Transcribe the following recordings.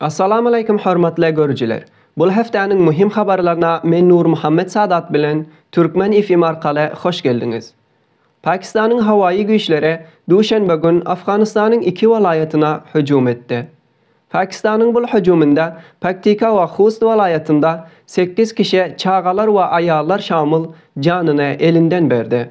Assalamualeýkum hormatly görüjiler! Bul hepdäniň muhim habarlaryna men Nurmuhammet Sadat bilen Türkmen FM arkaly hoş geldiňiz. Pakistanyň howaýy güýçleri duşenbe gün Afganystanyň iki welaýatyna hüjüm etdi. Pakistanyň bul hüjüminde Paktika we Hust welaýatynda sekiz kişi çagalar we aýallar şamyl janyny elinden berdi.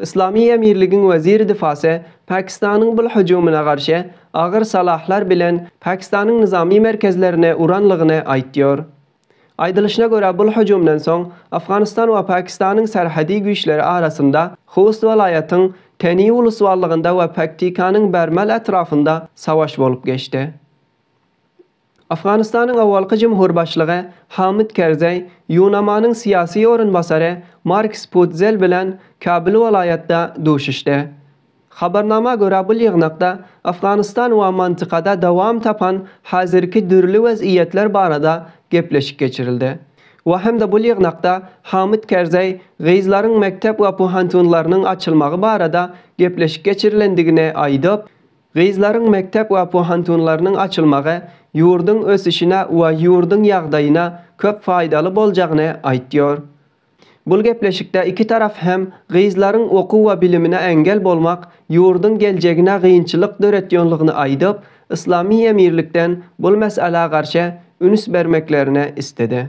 Yslamy emirligiň weziri difasy Pakistanyň bul hüjümine garşy agyr salahlar bilen Pakistanyň nyzamy merkezlerine uranlygyny aýtýor. Aýdylyşyna görä bul hüjümden soň Afganystan we Pakistanyň serhedi güýçleri arasynda Host welaýatyň Teni uluswallygynda we Paktikanyň Bermal etrafynda savaş bolup geçdi. Afganystanyň awalky jumhur başlygy Hamid Kerzeý Ýunamanyň syýasy orunbasary Marks Putzel bilen Kabul welaýatda duşuşdy. Habarnama görä bul ýygnakda Afganystan we mantykada dowam tapan hazirki dürli wez iýetler barada gepleşik geçirildi we hem-de bul ýygnakda Hamid Kerzeý gyzlaryň mekdep opu hantunlarynyň açylmagy barada gepleşik geçirilendigini aýdyp, Gyzlaryň mekdep we pohantunlarynyň açylmagy ýurduň ösüşine we ýurduň ýagdaýyna köp faýdaly boljagyny aýtýar. Bul gepleşikde iki tarap hem gyzlaryň okuw we bilimine eňgel bolmak ýurduň geljegine gynçylyk döretýonlygyny aýdyp, yslamy emirlikden bul mesalä garşy üns bermeklerini istedi.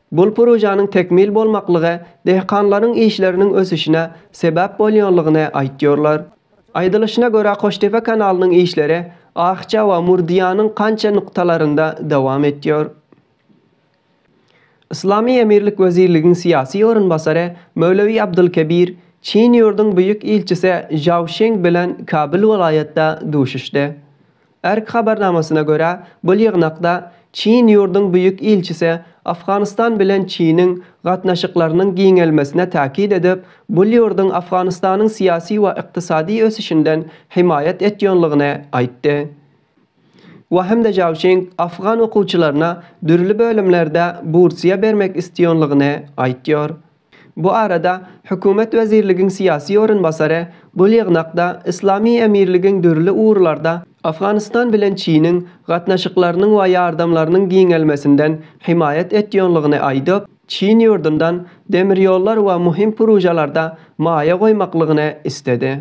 Bul projanyň tekmil bolmaklygy dehkanlaryň işleriniň ösüşine sebäp bolýanlygyny aýtýarlar. Aýdylyşyna görä Koştepe kanalynyň işleri Akja we Murdiýanyň kança nuktalarynda dowam etýär. Yslamy emirlik wezirligiň syýasy orunbasary Möwlewi Abdulkebir Çin ýurduň büýük ilçisi Žao Şeng bilen Kabyl welaýatda duşuşdy. Erk habarnamasyna görä, bu ýygnakda Çin ýurduň Büýük ilçisi Afganystan bilen Çiniň gatnaşyklarynyň giňelmesine täkit edip, bul ýurduň Afganystanyň syýasy we ykdysady ösüşinden hemaýat etýonlygyny aýtdy we Hemde Jaoşing afgan okuwçylaryna dürli bölümlerde bursiýa bermek istýonlygyny aýtýor. Bu arada hökümet wezirligiň syýasy orunbasary bul ýygnakda Yslamy Emirligiň dürli ugurlarda Afganystan bilen Çiniň gatnaşyklarynyň we ýardamlarynyň giňelmesinden hemaýat etýonlygyny aýdyp, Çin ýurdundan demirýollar we muhim pružalarda maýa goýmaklygyny isledi.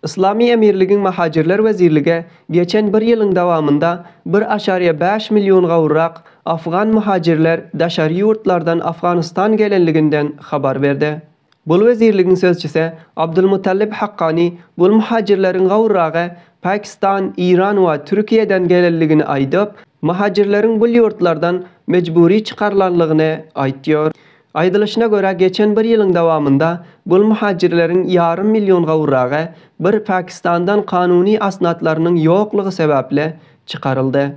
Yslamy Emirligiň Mahajirler wezirlige geçen bir ýylyň dowamynda bir aşaryýa bäş million gowrurak afgan muhajirler daşary ýurtlardan Afganystan gelenliginden habar berdi. Bul wezirligiň sözçüsi Abdulmutallib Haqqani bul muhajirleriň gowruragy Pakistan, Iran we Türkiýeden gelenligini aýdyp, muhajirleriň bul ýurtlardan mejbury çykarylanlygyny aýtýar. Aýdylyşyna görä, geçen bir ýylyň dowamynda bul muhajirleriň ýarym million gowragy bir Pakistandan kanuny asnatlarynyň ýoklugy sebäpli çykaryldy.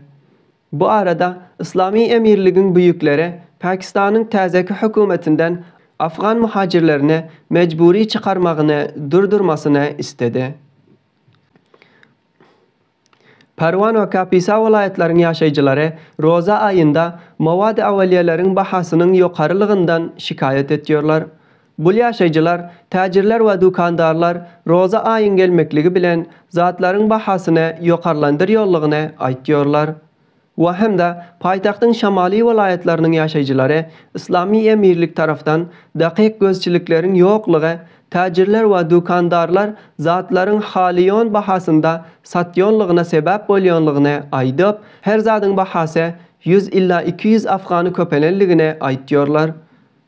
Bu arada Yslamy Emirligiň büýükleri Pakistanyň täzeki hökümetinden afgan muhajirlerini mejbury çykarmagyny durdurmasyny istedi. Parwan we Kapisa welaýatlaryň ýaşaýjylary roza aýynda mowady awalýeleriň bahasynyň ýokarylygyndan şikaýat etýärler. Bul ýaşaýjylar, täjirler we dükandarlar roza aýyň gelmekligi bilen zatlaryň bahasyny ýokarlandyrýarlygyny aýtýarlar. we hem-de paýtagtyň şamaly welaýatlarynyň ýaşaýjylary Yslamy Emirlik tarapdan dakyk gözçilikleriň ýoklugy, täjirler we dükandarlar zatlaryň halaýan bahasynda satýanlygyna sebäp bolýanlygyny aýdyp, her zadyň bahasy ýüz ila iki ýüz afgany köpelenligini aýtýarlar.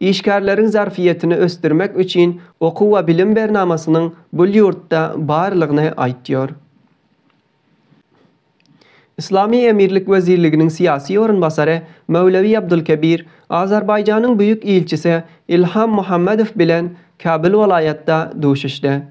Işgärleriň zarfyýetini ösdürmek üçin okuw we bilim bernamasynyň bul ýurtda barlygyny aýtýar. Yslamy Emirlik wezirliginiň syýasy orunbasary Möwlewi Abdulkebir Azerbaýjanyň Büýük ilçisi Ilham Muhammedow bilen Kabul welaýatda duşuşdy.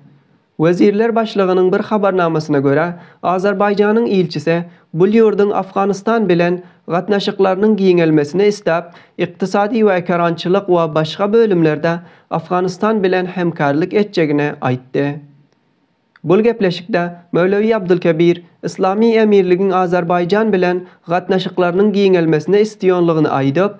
Wezirler başlygynyň bir habarnamasyna görä, Azerbaýjanyň ilçisi bul ýurduň Afganystan bilen gatnaşyklarynyň giňelmesini isläp, ykdysady we ekerançylyk we başga bölümlerde Afganystan bilen hemkärlik etjegini aýtdy. Bul gepleşikde Möwlewi Abdulkebir Yslamy Emirligiň Azerbaýjan bilen gatnaşyklarynyň giňelmesini isliýonlygyny aýdyp,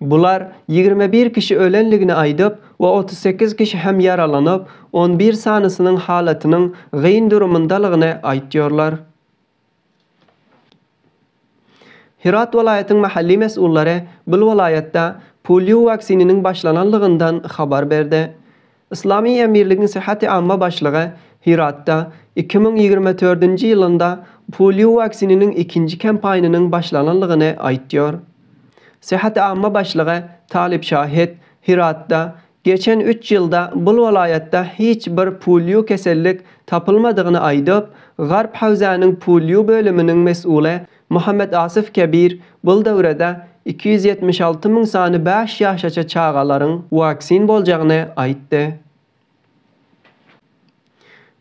Bular ýigrimi bir kişi ölendigini aýdyp we otuz sekiz kişi hem ýaralanyp, on bir sanysynyň halatynyň gyn durumyndalygyny aýtýarlar. Hyrat welaýatyň mahalli mes'ullary bul welaýatda polio waksininiň başlananlygyndan habar berdi. Yslamy Emirligiň Syhhati Amma başlygy Hyratda iki müň ýigrimi dördünji ýylynda polio waksininiň ikinji kampaýnynyň başlananlygyny aýtýar. Syhhati Amma başlygy Talib Şahed Hyratda geçen üç ýylda bul welaýatda hiç bir polio kesellik tapylmadygyny aýdyp, Garp hawzanyň polio bölüminiň mesuly Muhammet Asyf Kebir bul döwrede iki ýüz ýetmiş alty müň sany bäş ýaşaça çagalaryň waksin boljagyny aýtdy.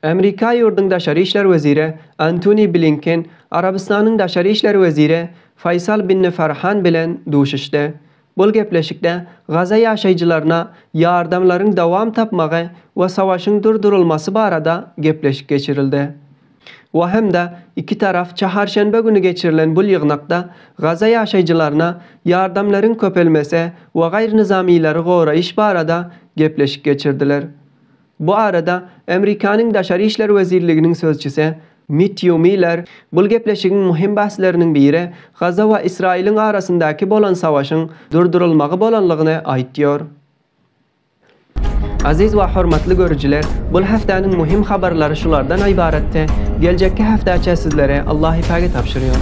Amerika ýurduň daşary işler weziri Antoni Blinken Arabystanyň daşary işler weziri Faýsal Binni Farhan bilen duşuşdy. Bul gepleşikde Gaza ýaşaýjylaryna ýardamlaryň dowam tapmagy we savaşyň durdurylmasy barada gepleşik geçirildi. We hem-de iki taraf çaharşenbe güni geçirilen bul ýygnakda Gaza ýaşaýjylaryna ýardamlaryň köpelmesi we gaýrynyzamyýleri goraýyş barada gepleşik geçirdiler. Bu arada Amerikanyň Daşary işler wezirliginiň sözçüsi Mettýu Miller bul gepleşigiň möhüm bäsleriniň biri Gaza we Ysraýylyň arasyndaky bolan savaşyň durdurylmagy bolanlygyny aýtýar. Aziz we hormatly görüjiler, bul häftäniň möhüm habarlary şulardan ybaratdy, geljekki häftäçä sizleri Allahypage tabşyrýar.